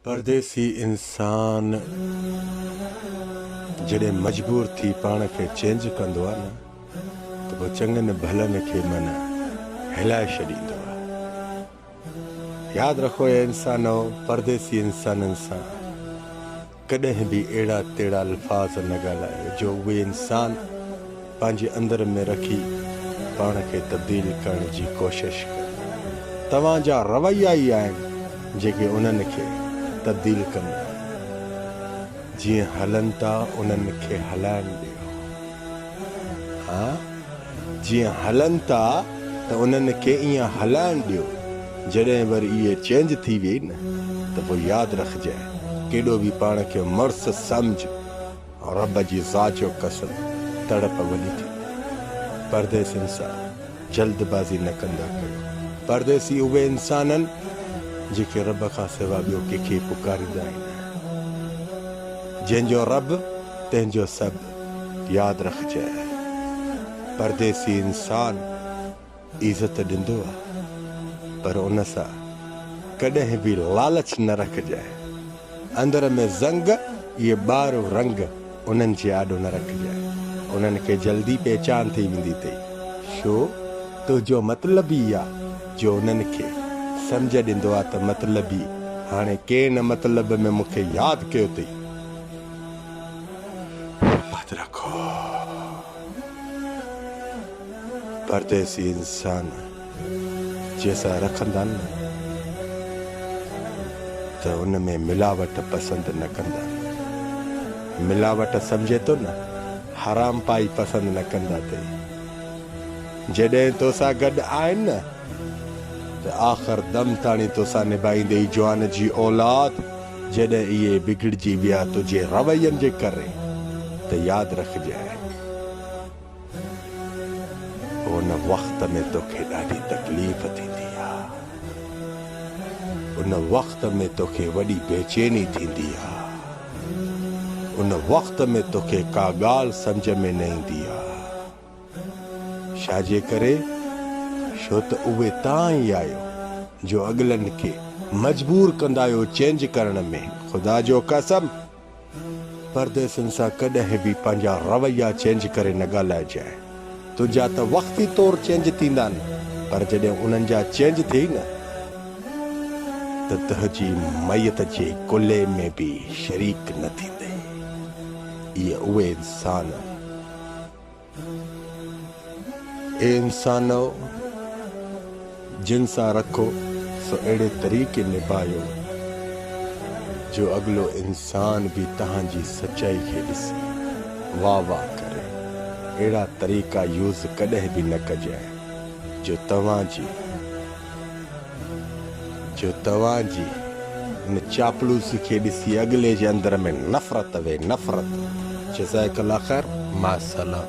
پرديسي انسان جڏهن مجبور ٿي پاڻ کي چينج ڪندو آهي نه ته پوء چڱن ڀلن کي من هلائي ڇڏيندو آهي. ياد رکو اي انسانؤ پرديسي انسانن سان ڪڏهن به اهڙا تهڙا الفاظ نه ڳالهائي جو اهي انسان پنهنجي اندر ۾ رکي پاڻ کي تبديل ڪرڻ جي ڪوشش ڪن. توهان جا رويا ئي آهن جيڪي انهن کي تبديل ڪندا آهن. جيئن هلن ٿا انهن کي هلائڻ ڏيو. ها. جيئن هلن ٿا ته انهن کي ايئن هلائڻ ڏيو، جڏهن وري اهي چينج ٿي ويئي نه ته پوء ياد رکجانء، ڪيڏو به پاڻ کي مڙس سمجهه، رب جي ذات جو قسم تڙپ وڏي ٿيندي. پرديسين سان جلد بازي نه ڪندا ڪيو، پرديسي اهي انسان آهن جيڪي رب کان سوا ٻيو ڪنهن کي پڪاريندا ئي نه آهن، جنهن جو رب تنهن جو سڀ. ياد رکجئه پرديسي انسان عزت ڏيندو آ پر ان سا ڪڏهن به لالچ نه رکجئه اندر ۾ زنگ اهي ٻار رنگ انهن جي آڏو نه رکجئه انهن کي جلدي پهچان ٿي ويندي تئي شو تنهنجو مطلبي آ جو انهن کي سمجهه ڏيندو آ ته مطلبي هاڻي ڪين مطلب ۾ مونکي ياد ڪيو تئي. همت رکو پرديسي انسان جنهن سان رکندا نه ته ان ۾ ملاوٽ پسند نه ڪندا ملاوٽ سمجهي ٿو نه حرام پائي پسند نه ڪندا تي جڏهن تو سان گڏ آهن نه ته آخر دم تاڻي تو سان نبائيندي جوان جي اولاد جڏهن اهي بگڙجي ويا تنهنجي روين جي ڪري ته ياد رکجانء ان وقت ۾ توکي ڏاڍي تڪليف ٿيندي آ، ان وقت ۾ توکي وڏي بيچيني ٿيندي آ، ان وقت ۾ توکي ڪا ڳالهه سمجهه ۾ نه ايندي آ. ڇاجي ڪري؟ ڇو ته اهي تان ئي آهيو جو اڳلن کي مجبور ڪندا آهيو چينج ڪرڻ ۾. خدا جو قسم! پرديسين سان ڪڏهن به پنهنجا رويا چينج ڪري نه ڳالهائجانء. تنهنجا ته وقتي طور چينج ٿيندا نه پر جڏهن انهن جا چينج ٿئي نه ته تنهنجي ميت جي ڪلهي ۾ به شريڪ نه ٿيندي. اهي اهي انسان اي انسانؤ! جن سان رکو سو اهڙي طريقي نڀايو جو اڳلو انسان به تهان جي سچائي کي ڏسي واه واه ڪري. اهڙا طريقا يوز ڪڏهن به نه ڪجانء جو توهان جي جو توهان جي ان چاپلوسي کي ڏسي اڳلي جي اندر ۾ نفرت وي نفرت جزاڪ الله خير مع السلام.